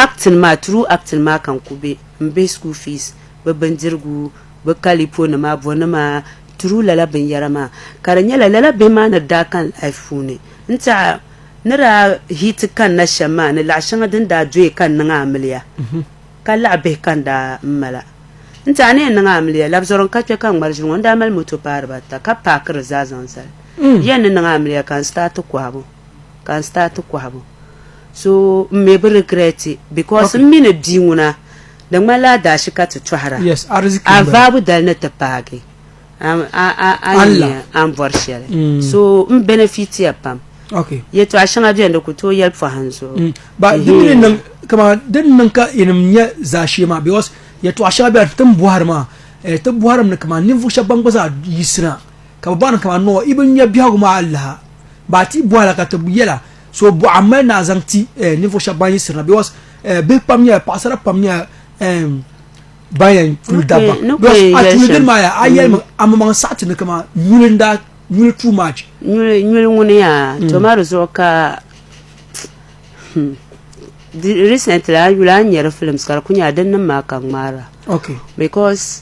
Act ni maa, through Act ni maa ka n ku be m bihi school fees, bɛ bindirigu, bɛ kalipo nima, bonima, through lala binyara maa. Ka di nyɛla lala bihi maa ni daa kani life puuni n ti a ni daa hit kanna shem maa ni laɣi sheŋa din daa doya ka n niŋ amiliya ka laɣi bihi ka n daa m mala n ti a ni yɛn niŋ amiliya labzɔro n ka kpe ka n ŋmari ʒili ŋɔ n daa mali moto paai diba ata ka paaki di zaa zaŋ zali yɛn ni niŋ amiliya ka n start kohibu ka n start kɔhibu so m mi bi regret because m mi ni bia ŋuna di ŋmanila adaashi ka ti tɔhira a vaabu dali ni ti paagi a nya a ni bɔri shɛli mm. so m benefit ya pam yɛtɔɣa shɛŋa beni di ku tooi yɛli pɔhim zuɣu mm. di ni niŋ ka yinim nya zaashee maa because yɛtɔɣa shɛŋa beni ti ni bɔhiri maa eh, ti bɔhiri mi ni kaman ninvuɣ shɛba ban gba zaa yiɣisina ka bɛ baŋ ni kaman nɔɔ i bi nya biɛhigu maa alaha ba a ti bɔhila ka ti yɛla so bɔɣa m-mali ni a zaŋ ti eh, ninvuɣ shɛba ban yiɣisirina because eh, bihi pam nyɛla paɣisara pam nyɛla eh, ban yɛn kuli dabba Okay, no because kwe a tuuli yɛli dini maa ya a yɛli mi amaŋ saɣi ti ni kaman nyuli n daa nyuli too much nyuli nyuli ŋuni yaa to ma di zuɣu ka hmm, di- recently a yuli a ni nyari films ka di ku nyɛla din niŋ maa ka ŋmaara okay because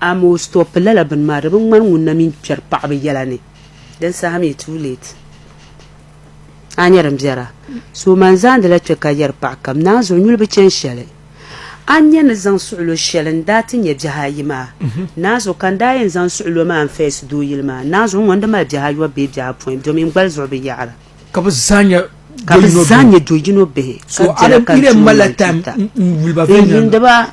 Amaa o stop lala bini maa, di bi ŋmani ŋun na mini kpɛri paɣibu yɛla ni, din saha mi too late. A nya din biɛra? So man zaandila kpɛ ka yɛri paɣ kam, Naanzuɣu nyuli bi chani shɛli. A ni nya ni zaŋ suɣilo shɛli n-daa ti nya biɛhi ayi maa, Naanzuɣu ka n daa yɛn zaŋ suɣilo maa n-face doo yili maa, Naanzuɣu ŋɔ n-di mali biɛhi ayɔbu bee biɛhi apɔin, domi n gbali zuɣu bi yaɣira. Ka bi zaa nyɛ do yino bihi. So a ni di yɛn malila time n-yuli ba viɛnyɛliŋga.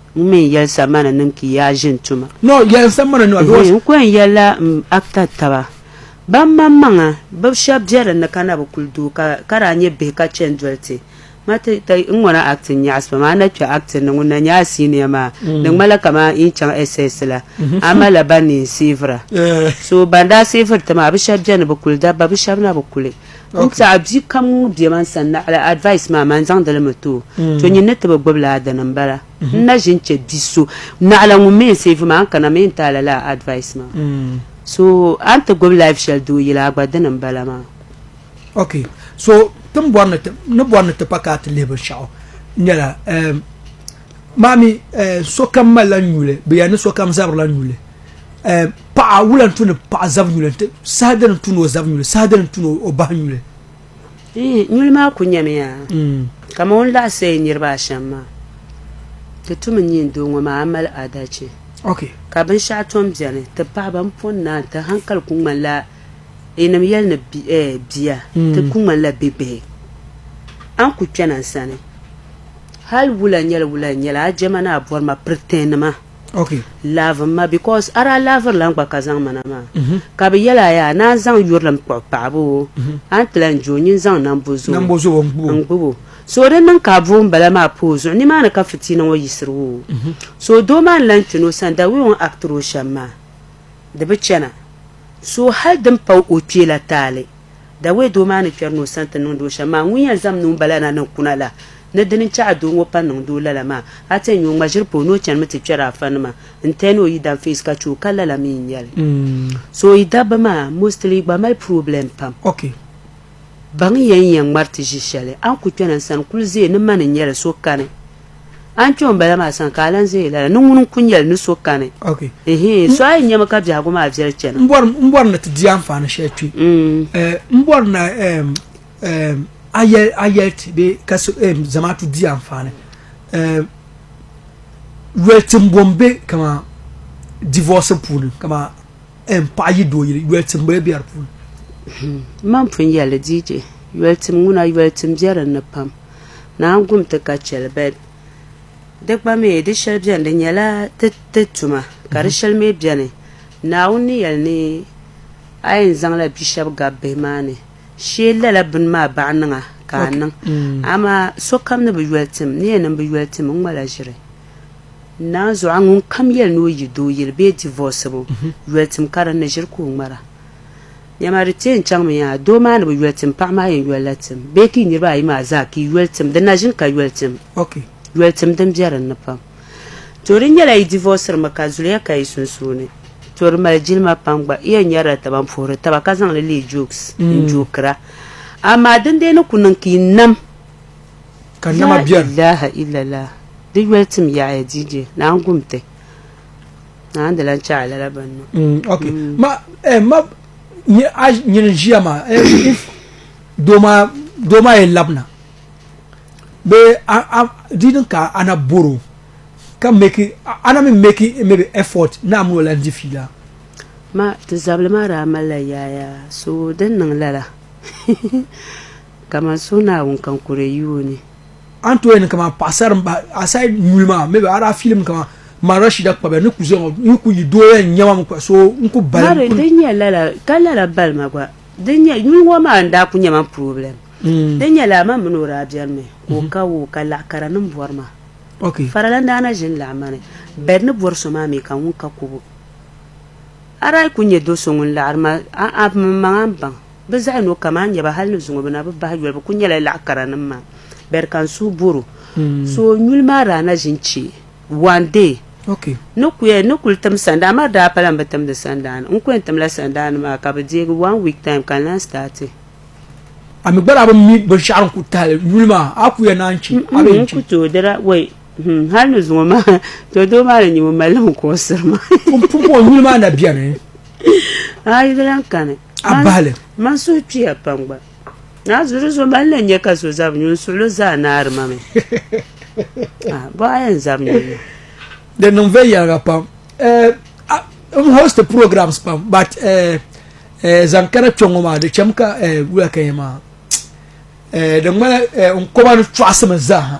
N mi n yɛli samana nim ki yaa ʒin tuma. No, yɛli samana nima bɛ was. N ko n yɛli la m acta taba ban man maŋa bɛ shɛb bɛ din ni ka na bi kuli doo ka ka daa nyɛ bihi ka chɛn doli ti ma ti ti n ŋɔ na acti n nyaɣisi pam a na kpɛ acti ni ŋun na nyɛ a senior maa di ŋmanila kaman yi chaŋ SS la a malila ban ni yi n savira so ban daa saviri ti maa bɛ shɛb bɛ ni bɛ kuli dabba bɛ shɛb na bi kuli N tiɛhi bia kam ŋun be man sani naɣila advice maa maa n-zaŋdi li mi ti o. To nyin ni ti bi gbibi laa dini m-bala. N na ʒi n-che bi so naɣila ŋun mi yɛn save maa n-kana mi n-ti a lala advice maa. So a ni ti gbibi life shɛli doo yila a gba dini m-bala maa. Ok, so ti ni bɔri ni ti pa ka a ti lihi binshɛɣu nyɛla, maa mi sokam malila nyuli bee a ni sokam zabirila nyuli. eh, paɣa wula n-tu ni paɣa zab nyuli nti saha dini n-tu ni o zab nyuli saha dini n-tu ni o bahi nyuli eh, nyuli maa ku nyamiya mm. kama o ni laɣisi eh, niriba ashɛm maa ti tumi nyin doo ŋɔ maa mali adalci okay. ka binshɛɣu tom beni ti paɣa ban pɔn naan ti hankali ku ŋmanila yinim eh, yɛli ni bia mm. ti ku ŋmanila bi bihi an ku kpɛna n sani hali wula nyɛli wula n nyɛla a jɛma ni a bɔrima piritɛnima Okay. Love ma because ara love la gba ka zaŋ mana maa. Mm -hmm. Ka bi yɛla yaa na zaŋ yurilim kpuɣi paɣaba o. Mm -hmm. An ti lan jo nyin zaŋ nambo zuo. Nambo zuo n gbubo. So di niŋ ka bo n bala maa pa o zuɣu ni maa ni ka fitiina ŋɔ yisiri o. Mm -hmm. So doo maa ni lan kpini o sani da wee o ni actiri o shɛm maa di bi chana. So hali din pa o kpee la taali. Dawei doo maa ni kpɛri ni o sani ti niŋdi o shɛm maa, ŋun yɛn zaŋm ni ŋun bala na ni kuna la, ni di ni chɛ a doo ŋɔ pa niŋdi o lala maa, a ti yɛn nya o ŋma ʒiri pa o ni o chanimi ti kpɛri afa nima n-tɛhi ni o yi dan feesi ka chɛ o ka lala mi n-nyɛ li. So yi dabba maa mostly gba mali problem pam. Ok. Baŋ yɛn yɛn ŋmari ti ʒi shɛli, a ni ku kpɛna n sani kuli zee ni ma ni nyɛli so kani A ni kpe ŋun bala maa sani ka a lan ʒe yi lala ni ŋuni n-ku nya li ni so kani. Ɛhii, so a yi nya mi ka biɛhigu maa viɛli chana. M bɔri ni ti di anfaani shɛli kpe. M bɔri ni a yɛli ti bee Zamaatu di anfaani. Yoli timbu m-be kamani divɔɔsi puuni kamani paɣa yi doo yili, yoli timbu be di puuni. M ma ni pun yɛli li DJ, yoli tim ŋuna, yoli tim be din ni pam. Naa gum ti ka chɛli bɛn di gba mi di shɛli bɛni di nyɛla ti ti tuma ka di shɛli mi bɛni Naawuni ni yɛli ni a yɛn zaŋla bi shɛba gabi bihi maa ni shee lala bini maa baɣa niŋa ka a niŋ amaa sokam ni bi yoli tim ni yɛn niŋ bi yoli tim n ŋma la ʒiri Naa zuɣu a ŋunkam yɛli ni o yi doo yili bee divɔsibu yoli tim ka din ni ʒiri ka o ŋmara Dama di tee n-chaŋmi yaa, doo maa ni bi yoli tim, paɣa maa yɛn yolila tim, bee ka yi niriba ayi maa zaa ka yi yoli tim, di na ʒini ka yoli tim. Ok, yoli tim din be din ni pam. To di nyɛla yi divɔsirimi ka zuliya ka yi sunsuuni. To di mali jilima pam gba, yi yɛn nyarila taba m-puhiri taba ka zaŋ li leei jokes n-jookira. Amaa din dee ni ku niŋ ka yi nam. Ka nama beni. Laa ilaha illallah. Di yoli tim yaɣiya DJ, naan gum ti. na n di lan chɛ a lala bɛn niŋ. Mm, ok mm. ma eh, ma nye a nyini ʒiya maa eh, if doo maa doo maa yɛn labina bee a a di din ka ana boro ka meki ana mi meki maybe effort na mi wala di fiila ma ti zabili maa daa malila yaaya so din niŋ lala kamani suhinaawuni ka n kuri yuuni an to yɛn kama paɣasari n bahi aside nyuli maa maybe a daa filim kama ma rashida kpabiya ni ku zɔya ŋɔ n ku yi dooya n nyɛma mi kpa so n ku bali mari din nyɛ lala ka lala bali ma gba din nyɛ nyuli ŋɔ maa n daa ku nyɛma n problem din nyɛ lala man mini o daa biɛni mi ka o ka o ka laɣa kara nim bɔri ma okay farala n daa na ʒini laɣa mani bed ni bɔri so maa mi ka ŋun ka kubu a daa ku nyɛ do so ŋun laɣari ma a a mini maŋa n baŋ Bɛ zaɣ yino kam a ni nya ba hal ni zuŋɔ bɛ na bi bahi yoli, bɛ kul nyɛla laɣ karanim maa. Beri ka n suhu bɔr o. So nyuli maa daa na ʒi n-chɛ one day. Ni ku yɛn ni kul tim sandaa maa daa pala m bi timdi sandaa ni. N ku yɛn timla sandaa ni maa ka bɛ deegi one week time ka n lan start. A mi gba daa bi mi binshɛɣu din kul tahili nyuli maa a ku yɛn naan chɛ a bee n-chɛ? N ku tooi dira wei Hmm, hali ni zuŋɔ maa to doo maa ni nyɛ ŋun mali ŋun kuɣusiri ma pumpɔŋ nyuli maa na bɛni ayi di lan kani abali man suhu kpiya pam gba naa zuri zo mali na nyɛ ka so zab nyu n suɣulo zaa naari ma mi ah, bo aya n zab nyu di niŋ vɛ yɛliga pam eh, m host programs pam but eh, eh, zaŋ kana kpɛ ŋɔ maa di chɛm ka wula ka yɛ maa di ŋmana n kɔba ni chɔɣasimi zaaha